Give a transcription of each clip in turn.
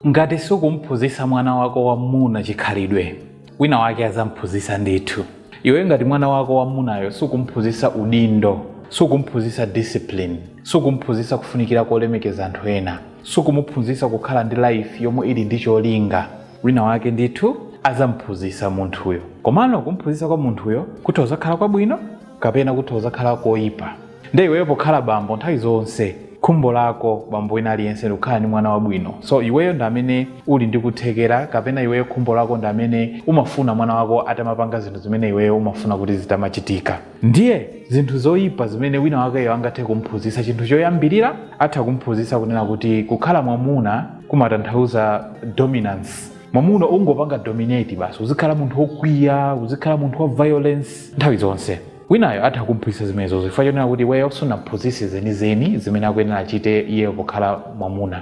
Ngati sukum'phunzitsa mwana wako wam'muna chikhalidwe, wina wake adzam'phunzitsa ndithu. Iweyo ngati mwana wako wam'munayo sukum'phunzitsa udindo, sukum'phunzitsa discipline, sukum'phunzitsa kufunikira kolemekeza anthu ena, sukumuphunzitsa kukhala ndi life yomwe ili ndi cholinga, wina wake ndithu adzam'phunzitsa munthuyo. Komano kum'phunzitsa kwa munthuyo kutha kudzakhala kwabwino? kapena kutha kuzakhala koipa nde iweyo pokhala bambo nthawi zonse khumbo lako bambo wina aliyense ndikukhala ndi mwana wabwino so iweyo ndi amene uli ndi kuthekera kapena iweyo khumbo lako ndi amene umafuna mwana wako atamapanga zinthu zimene iweyo umafuna kuti zitamachitika ndiye zinthu zoyipa zimene wina wakeyo angathe kumphunzitsa chinthu choyambirira atha kumphunzitsa kunena kuti kukhala mwamuna kumatanthauza dominance mwamuna ungopanga dominate basi uzikhala munthu wokwiya uzikhala munthu wa violence nthawi zonse. Winayo atha kum'phunzitsa zimenezozo chifukwa chonena kuti iweyo sunamuphunzitse zenizeni zimene akuyenera achite iyeyo pokhala mwamuna.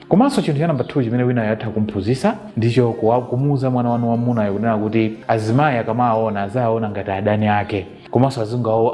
Komanso chinthu cha namba 2 chimene winayo atha kum'phunzitsa ndicho kuwa- kumuuza mwana wanu wamunayo kunena kuti azimayi akamawaona aziwaona ngati adani ake. komanso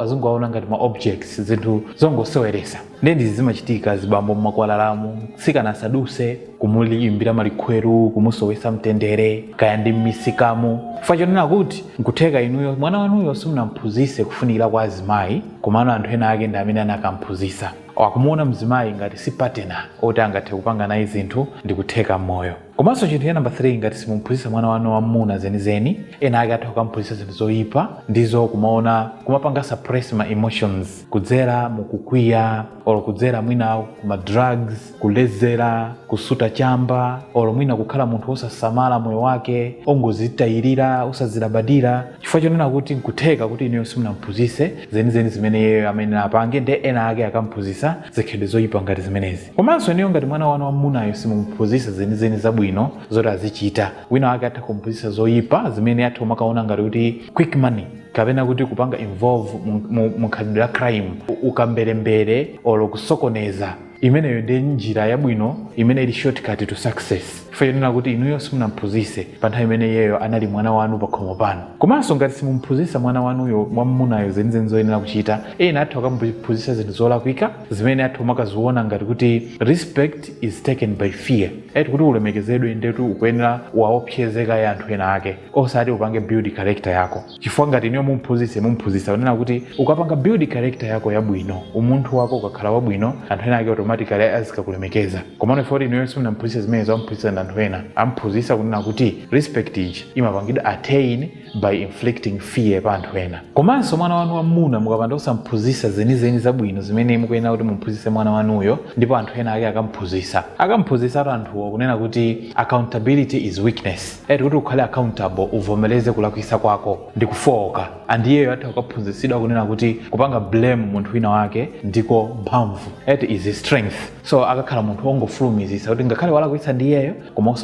azingowaona ngati ma objects zinthu zongoseweresa ndiye ndizi zimachitika azibambo mmakwalalamu mtsikana asaduse kumuyimbira malikhweru kumusowesa mtendere kaya ndi mmisikamu chifukwa chonena kuti nkutheka inuyo mwana wanuyo simunamphunzise kufunikira kwa azimayi komano anthu ena ake ndi amene anakamphunzisa akumuona mzimayi ngati si patena oti angathe kupanga naye zinthu ndikutheka mmoyo komanso chinthu cha namba 3 ngati simuphunzitsa mwana wanu wamuna zenizeni ena ake atha kukamuphunzitsa zinthu zoyipa ndizo kumaona kumapanga suppress ma emotions kudzera mukukwiya olo kudzera mwina kuma drugs kuledzera kusuta chamba olo mwina kukhala munthu wosasamala moyo wake ongozitayirira osazilabadira chifukwa chonena kuti nkutheka kuti inuyo simunamuphunzitse zenizeni zimene iyeyo amayenera apange nde ena ake akamphunzitsa zikhalidwe zoyipa ngati zimenezi komanso inuyo ngati mwana wanu wamunayo simumuphunzitsa zenizeni zabwino zoti azichita wina wake atha kumuphunzitsa zoyipa zimene atha kumakaona ngati kuti quick money kapena kuti kupanga involve mu- mu- mu khalidwe la crime u- ukamberembere olo kusokoneza imeneyo ndi njira yabwino imene ili shortcut to success chifukwa chonena kuti inuyo simunamuphunzitse pa nthawi imene iyeyo anali mwana wanu pakhomo pano komanso ngati simumuphunzitsa mwana wanuyo mwamunayo zenizeni zoyenera kuchita ena atha kukamuphunzitsa zinthu zolakwika zimene atha kumakaziona ngati kuti respect is taken by fear ati kuti ulemekezedwe ndetu ukuyenera uwaopseze kaye anthu ena ake osati upange build character yako chifukwa ngati inuyo mumphunzitse mumphunzitsa kunena kuti ukapanga build character yako yabwino umunthu wako ukakhala wabwino anthu ena ake automatically azikakulemekeza komano chifukwa choti inuyo simunamphunzitse zimenezo amphunzitsa ndi anthu ena amphunzitsa kunena kuti respect iji imapangidwa attain by inflicting fear pa anthu ena komanso mwana wanu wamuna mukapanda kusamphunzisa zenizeni zabwino zimene mukuyenera kuti mumphunzise mwana wanuyo ndipo anthu ena ake akamphunzisa akamphunzisatu anthuwo kunena kuti accountability is weakness eti kuti ukhale accountable uvomereze kulakwisa kwako ndi kufooka andiyeyo atha kukaphunzisidwa kunena kuti kupanga blame munthu wina wake ndiko mphamvu eti is strength so akakhala munthu wongofulumizitsa kuti ngakhale walakwitsa ndi iyeyo koma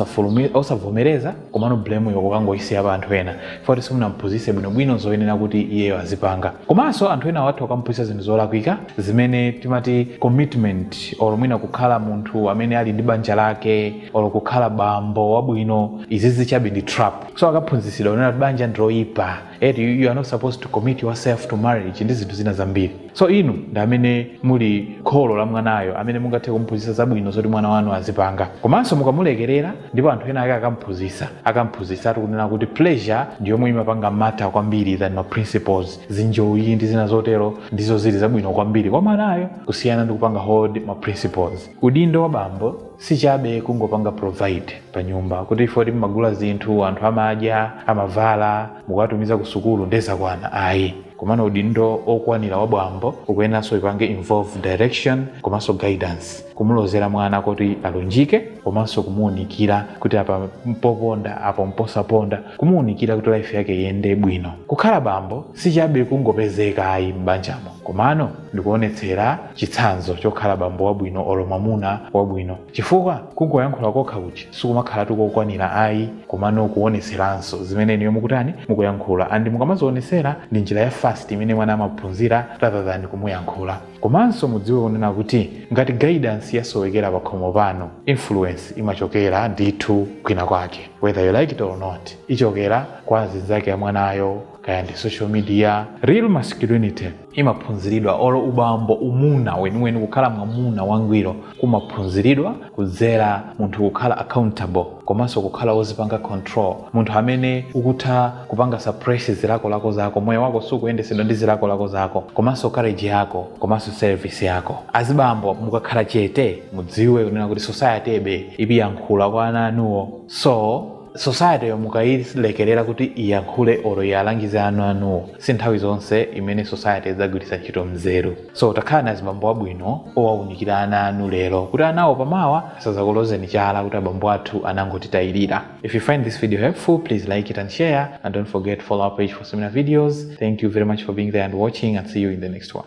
osavomereza komano blame yo kukangoyisiya pa anthu ena foti simunamuphunzitse bwinobwino zoyenera kuti iyeyo azipanga komanso anthu ena atha kukamuphunzitsa zinthu zolakwika zimene timati commitment or mwina kukhala munthu amene ali ndi banja lake or kukhala bambo wabwino izizi chabe ndi trap so akaphunzitsidwa kunena kuti banja ndiloyipa eti you are not supposed to commit yourself to marriage ndi zinthu zina zambiri so inu ndi amene muli kholo la mwanayo amene mungathe kumphunzitsa zabwino zoti mwana wanu azipanga komanso mukamulekerera ndipo anthu ena ake akamphunzitsa akamphunzitsatu kunena kuti pleasure ndi yomwe imapanga matter kwambiri than ma principles zinjoyi ndi zina zotero ndizo zili zabwino kwambiri kwa mwanayo kusiyana ndi kupanga hold ma principles udindo wa bambo sichabe kungopanga provide panyumba kuti foti mmagula zinthu anthu amadya amavala mukuwatumiza ku sukulu ndezakwana ayi komano udindo okwanira wa bambo ukuyeneranso ipange involve direction komanso guidance kumulozera mwana kuti alunjike komanso kumuunikira kuti apa mpoponda apa mposaponda kumuunikira kuti life yake iyende bwino kukhala bambo sichabe kungopezeka ayi m'banjamo komano ndikuonetsera chitsanzo chokhala bambo wabwino olo mwamuna wabwino chifukwa kungoyankhula kokha kuchi sikumakhalatu kokwanira ayi komano kuonetseranso zimene inuyo mukutani mukuyankhula and mukamazionetsera ndi njira ya fast imene mwana amaphunzira rather than kumuyankhula komanso mudziwe kunena kuti ngati guidance yasowekera pakhomo pano influence imachokera ndithu kwina kwake whether you like it or not ichokera kwa azinzake a mwanayo kaya ndi social media real masculinity imaphunziridwa olo ubambo umuna weniweni kukhala mwamuna wangwiro kumaphunziridwa kudzera munthu kukhala accountable komanso kukhala wozipanga control munthu amene ukutha kupanga suppress zilakolako zako moyo wako sukuyendesedwa ndi zilakolako zako komanso courage yako komanso service yako azibambo mukakhala chete mudziwe kunena kuti society ibe ikuyankhula kwa ana anuwo so society yo mukayilekerera kuti iyankhule olo iwalangize ana anuwo si nthawi zonse imene society idzagwiritsa ntchito mzeru so takhalani azibambo abwino owawunikira ana anu lero kuti anawo pamawa asazakulozeni chala kuti abambo athu anangotitayirira if you find this video helpful please like it and share and don't forget to follow our page for similar videos thank you very much for being there and watching and see you in the next one